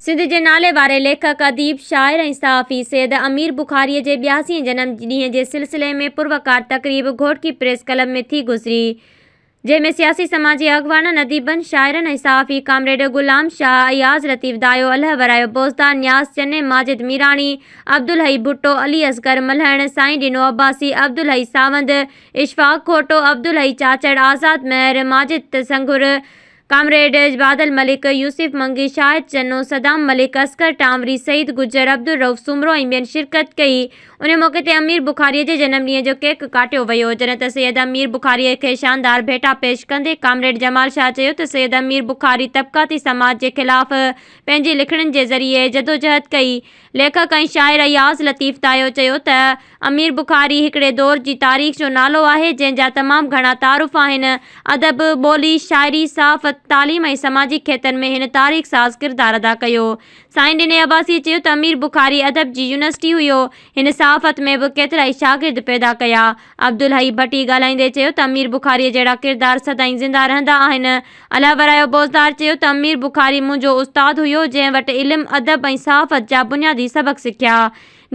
سنڌ جي نالي واري ليکڪ، اديب، شاعر ۽ صحافي سيد امير بخاريء جي ٻياسين جنم ڏينهن جي سلسلي ۾ پروقار تقريب گهوٽڪي پريس ڪلب ۾ ٿي گذري، جنهن ۾ سياسي سماجي اڳواڻن، اديبن، شاعرن ۽ صحافي ڪامريڊ غلام شاهه، اياز لطيف دايو، الهه ورايو، بوزدار نياز، چني ماجد ميراڻي، عبدالحئي ڀٽو، علي اصغر ملهڻ، سائين ڏنو عباسي، عبدالحئي ساوند، اشفاق گهوٽو، عبدالحئي چاچڙ، آزاد مهر، ماجد سنگهور، ڪامريڊ بادل ملڪ، يوسف منگي، شاهد چنو، صدام ملڪ، اصغر ٽانوري، سعيد گجر، عبدالرؤف سومرو ۽ ٻين شرڪت ڪئي. انهيء موقعي تي امير بخاريء جي جنم ڏينهن جو ڪيڪ ڪاٽيو ويو، جڏهن ته سيد امير بخاريء کي شاندار ڀيٽا پيش ڪندي ڪامريڊ جمال شاهه چيو ته سيد امير بخاري طبقاتي سماج جي خلاف پنهنجي لکڻين جي ذريعي جدوجهد ڪئي، ليکڪ ۽ شاعر اياز لطيف تايو چيو ته امير بخاري هڪڙي دور جي تاريخ جو نالو آهي، جنهن جا تمام گهڻا تعارف آهن. ادب، ٻولي، شاعري، صحافت، تعليم ۽ سماجي کيتن ۾ هن تاريخ ساز ڪردار ادا ڪيو. سائين ڏني عباسيء چيو ته امير بخاري ادب جي يونيورسٽي هيو. هن صحافت ۾ به ڪيترائي شاگرد پيدا ڪيا. عبدالحئي ڀٽي ڳالهائيندي چيو ته امير بخاريء جهڙا ڪردار سدائين زنده رهندا آهن. الله ورايو بوزدار چيو ته امير بخاري منهنجو استاد هيو، جنهن وٽ علم، ادب ۽ صحافت جا بنيادي سبق سکيا.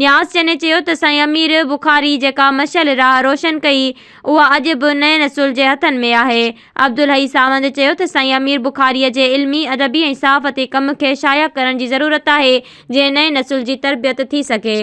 نياز چني چيو ته سائين امير بخاري جيڪا مشعل راهه روشن ڪئي، اها اڄ به نئين نسل جي هٿن ۾ آهي. عبدالحئي ساوند چيو ته سائين امير بخاريء جي علمي، ادبي ۽ صحافتي ڪم کي شايع ڪرڻ جي ضرورت آهي، جئين نئين نسل جي تربيت ٿي سگهي.